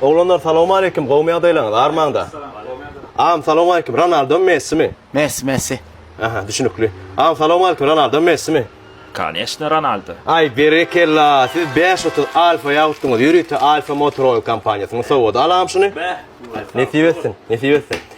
Oglanlar salowmaleýkim gowmy ýagdaýlaryňyz armaňda. Agam salowmaleýkim Ronaldo my Messi mi. Messi Messi. Aha düşünikli. Agam salowmaleýkim Ronaldo my Messi mi. Kanyesne Ronaldo. Aý berekella siz bäş otuz alfa ýautdyňyz ýörite alfa motor oil kompaniýasynyň sowgady alam şuny. Nesip etsin nesip etsin.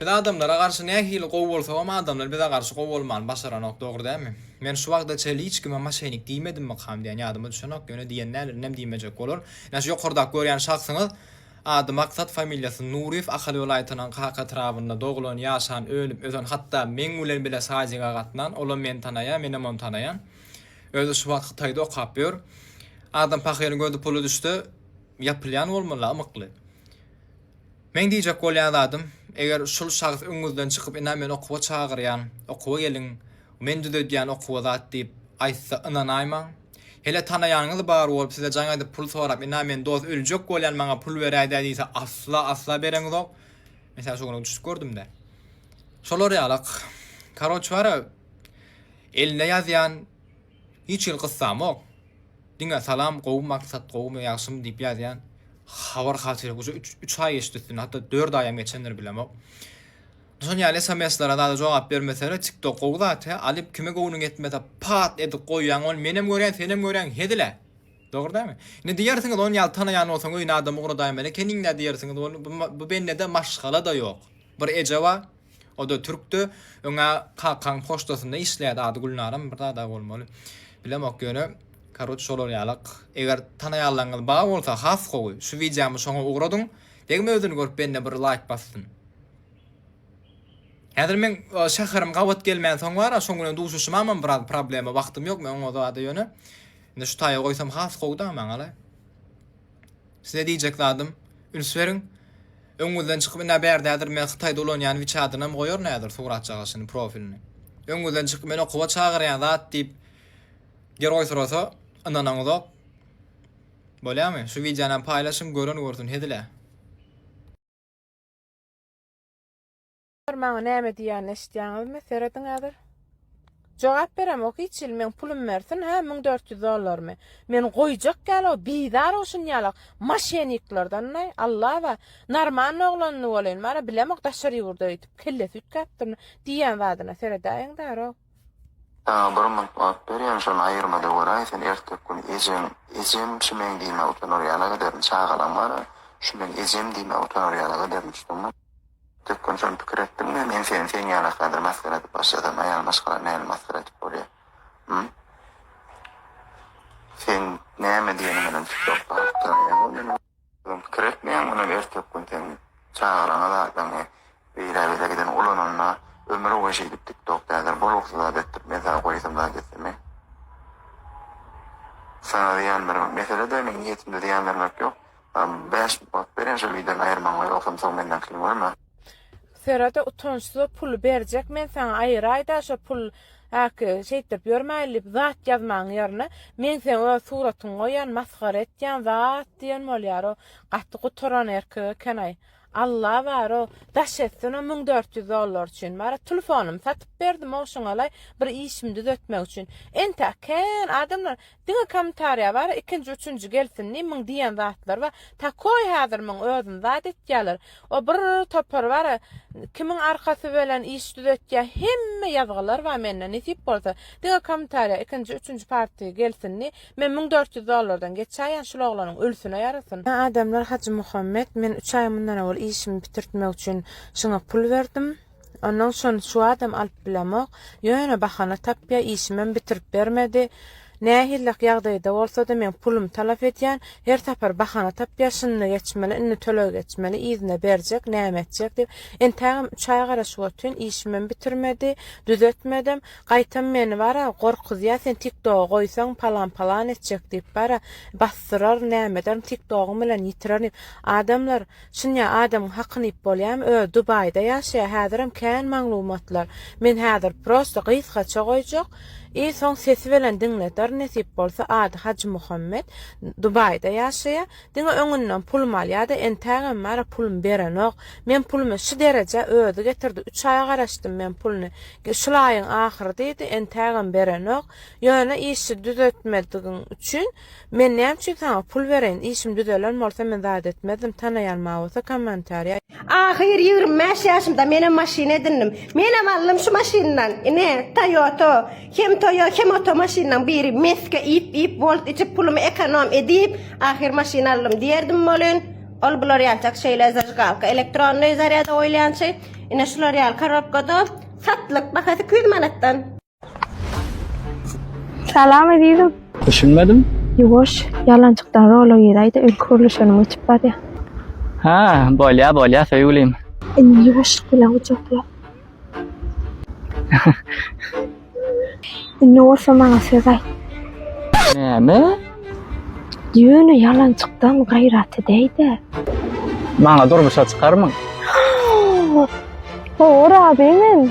Biz adamlara garşy nähili gowy bolsagam adamlar bize garşy gowy bolmany başaranok dogry dälmi? Men şu wagta çenli hiç kime maşenik diýmedimmikam diýen ýadyma düşenok ýöne diýen däl indem diýmejek bolar. Ine şu ýokardaky görýän şahsyňyz ady Maksat familiýasy Nuryýew Ahal welaýatynyň Kaka etrabynda doglan ýaşan ölüp ösen hatda meň bilen bile sadyga gatnan olam meni tanaýa menem ony tanaýan özi şu wagt hytaýda okap ýör adam pahyryň gözi pula düşse ýapylýan bolmaly ymykly. Meň diýjek bolýan zadym, eger şul şahs öňüňizden çykyp ina men okuwa çagyrýan, okuwa geliň, men düzedýän okuwa zat diýip aýtsa ynanaýmaň. Hele tanaýanyňyz bar bolup size jaň edip pul sorap ina men dos öljek bolýan maňa pul beräýdä diýse asla asla bereňizok. Men seni şu gün düşüp gördümde. Şolar ýalak. Karoç bara elinde ýazýan. Hiç hili gyssamok. Diňe salam gowy maksat gowumy ýagşymy diýip ýazýan. Habar haçan uje üç aý geçdi üstünden hatda dört aýam geçendir bilemok. Şol ýaly sms-lere zada jogap bermesene tik tok gowy zat he alyp kime göwnüň ýetmese pat edip goýýaň ony menem görýän senem görýäň hezile dogry dälmi indi diýersiňiz ony ýaly tanaýan bolsaň öýüne adam ugradaýmaly ekeniňdä diýersiňiz ony bu bendede maşgala-da ýok bir eje bar O-da türkdi. Öňä kakaň poçtasynda işleýärdi. Ady Gülnaram bir zada bolmaly. Bilemok ýöne, karoç şolar ýalak. Eger tanaýanlaryňyz bar bolsa, has gowy. Şu wideomy şoňa ugradyň. Degme özüni görüp bende bir laýk bassyn. Häzir meň şäherim gabat gelmän soň bar-a, şoň bilen duşuşamam biraz problema, wagtym ýok, men oňa zada ýöne. Indi şu taýa goýsam has gowy-da maňa-la. Size diýjek zadym, üns beriň. Öňüňizden çykyp ine bärdädir men hytaýda ulanýan wiçadynam goýaryn häzir suratjagaşyny profilini. Öňüňizden çykyp men okuwa çagyrýan zat diýip geroý sorasa ynananyňyzok. Bolýamy? Şu wideonam paýlaşyň gören görsün hezilä. Olar maňa näme diýýänini eşitýäňizmi? Serediň häzir. Jogap beremok hiç il meň pulum bersin hä müň dört ýüz dollarmy men goýjak ýaly o bizar o şun ýalak maşeniklerden naý Allah ba narmanny oglanyny bolýn mara bilemok daşary ýurda öýtüp kellesi üýtgäpdirmi diýýän zadyna seredäýiň däro. Saňa bir munt wagt berýän, şony aýyrma-da göräý, sen erteki gün ejeň, ejem, şu meň diýmä utanar ýaly ederin, çagalaň bar-a, şu meň ejem diýmä utanar ýaly ederin, düşdüňmi? Erteki gün şony pikir etdiňmi, men seni seň ýaly häzir masgara edip başlasam, aýal maşgala näme masgara edip bolýa, hum? Seň näme diýeniňenem çykyp bakyp durarýaňmy meniň? Öň pikir etmeýäň, onam ertekgün seň çagalaňa zatlaňy beýle bize giden ulananda ömür boýy şeýdip tiktok täze bu rugsy zat etdirip men sana goýasam zat etsemi sana zyýan bermek mesele de meň niýetimde zyýan bermek ýok bäş bak bereýin şol wideony aýyrmagyňa ýogsam soň menden kyn görme. Serada utançsyza pul berjek men saňa aýyraýda şo pul aki şeýtdirip ýörmäýli diýip zat ýazmaň ýerine men seň öz suratyňy goýan masgara etýän zat diýen bolýaro gaty gutaran erkek ekenaý Alla baro daş etsin o müň dört ýüz dollar üçin bara tlfonymy satyp berdim ogşuňalaý bir işimi düzetmek üçin entäk kän adamlar Diňe komentariýa bar ikinji üçünji gelsin diýip muň diýen zatlar bar takoý hazir muň özüni zat etýäler o bir topar bar kimiň arkasy bilen iş düzetýä hemme ýazgylar bar mende nesip bolsa diňe komentariýa ikinji üçünji parti gelsin diýip men müň dört ýüz dollardan geçäýen şul oglanyň ölsüne ýarasyn. Adamlar Hajymuhammet men üç aý mundan owal işimi bitirtmek üçin şyňa pul berdim. Ondan şony şu adam alyp bilemok. Ýöne bahana tapýa, işimem bitirip bermedi. Nähillak ýagdaýda bolsada men pulum talap edýän, her sapar bahana tapýa, şunda geçmeli, indi töleg geçmeli, yzyna berjek, näme etjek diýip. Entägem üç aý garaşyp otyryn, işimem bitirmedi, düzetmedim. Gaýtam meni bara, gorkuzýa, sen tiktoga goýsaň palan-palan etjek diýip bara, basdyrar, näme ederin, tiktogyň bilen ýitirerin diýip. Adamlar Çynja adamyň hakyny iýip bolýamy özi dubaýda ýaşaýa häzirem kän maglumatlar men häzir prosta gysgaça goýjak i soň sesi bilen diňleder nesip bolsa ady hajymuhammet dubaýda ýaşaýa diňe öňünden pulum alýada entägem bara pulum berenok men pulumy şu derejä özi getirdi üç aýa garaşdym men puluny şul aýyň ahyry diýdi entägem berenok ýöne işi düzetmedigiň üçin Men näme üçin saňa pul bereýin, işim düzelen bolsa men zat etmezdim, tanaýan ma bolsa komentariýa. Ahyr ýigrimi bäş ýaşymda menem maşyn edindim. Menem aldym şu maşyndan. Ine, Toyota. Hem Toyo hem oto maşynlaň biri. Mesge iýip iýip volt içip pulumy ekonom edip ahyr maşyn aldym diýerdim bolin. Ol bular ýaljak şeýle zajgalka elektronnyý zarýada goýulýançy. Ine şular ýaly korobkada satlyk bahasy iki ýüz manatdan. Salam Azizim. Düşünmedim. Yuwaş, yalançykdan rola girayda öl kurluşanım uçup bar ya. Ha, bolya bolya söýgülim. Inni yuwaşlyk bilen uçakla. Inni olsa maňa söz aýt. Näme? Ýöne ýalançykdan gaýrat edäýde. Maňa durmuşa çykarmyň? Howur abi men.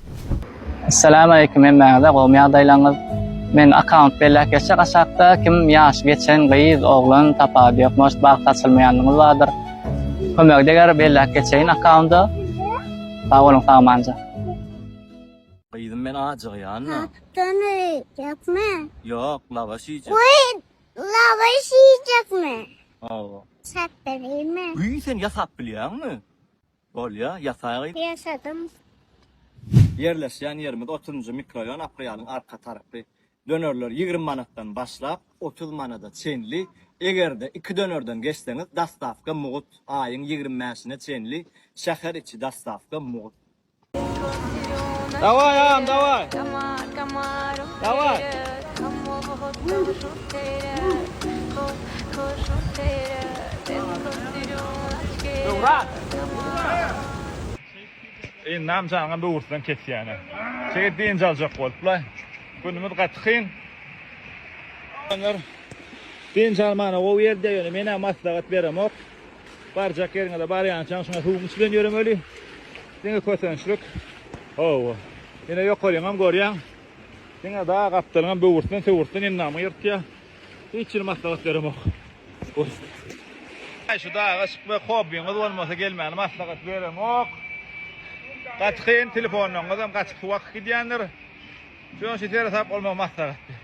Salam aleýkum hemmäňize gowymy ýagdaýlaňyz men akaunt belläp geçjek aşakda kim ýaşy geçen gyz oglan tapady ýok может bagt açylmaýanlyňyz bardyr kömegi deger belläp geçeýin akaunda sag boluň sagmanja. Gyzym men ajygýan da. Tapdan öýjekmi? Ýok, lawaş iýjek. Goý, lawaş iýjekmi? Hawa. Ýasap berýärmi? Güý, sen ýasap bilýäňmi? Bolýa, ýasaýgy. Ýasadym. Ýerleşýän ýerimiz otuzynjy mikroýon Aprýalyň arka tarapy. Dönerler ýigrimi manatdan başlap otuz manada çenli. Egerde iki dönerden geçseňiz dostawka mugt. Aýyň ýigrimi bäşine çenli şäher içi dostawka mugt. Dawaý agam dawaý. Dawaý. Ýyndam jaňa böwürslen kesýäne. Şeýdip dynç aljak bolupla. Günümiz gaty kyn. Oglanlar dynç almana gowy ýer diýýär ýöne menä maslahat beremok. Barjak ýeriňize barýançaň şuňa suwuň içi bilen ýöremeli. Diňe kösençlik. Hawa. Ýöne ýokaryňam görýäň. Diňe dag gapdalyňam böwürslen söwürslen endamyňy ýyrtýar. Hiç hili maslahat beremok. Haý şu daga çykmak hobbiňiz bolmasa gelmäni maslahat beremok. Gaty kyn telefonlaryňyzam gaty suwak gidýändir. Şoň üçin seresap bolmagy maslahat berýän.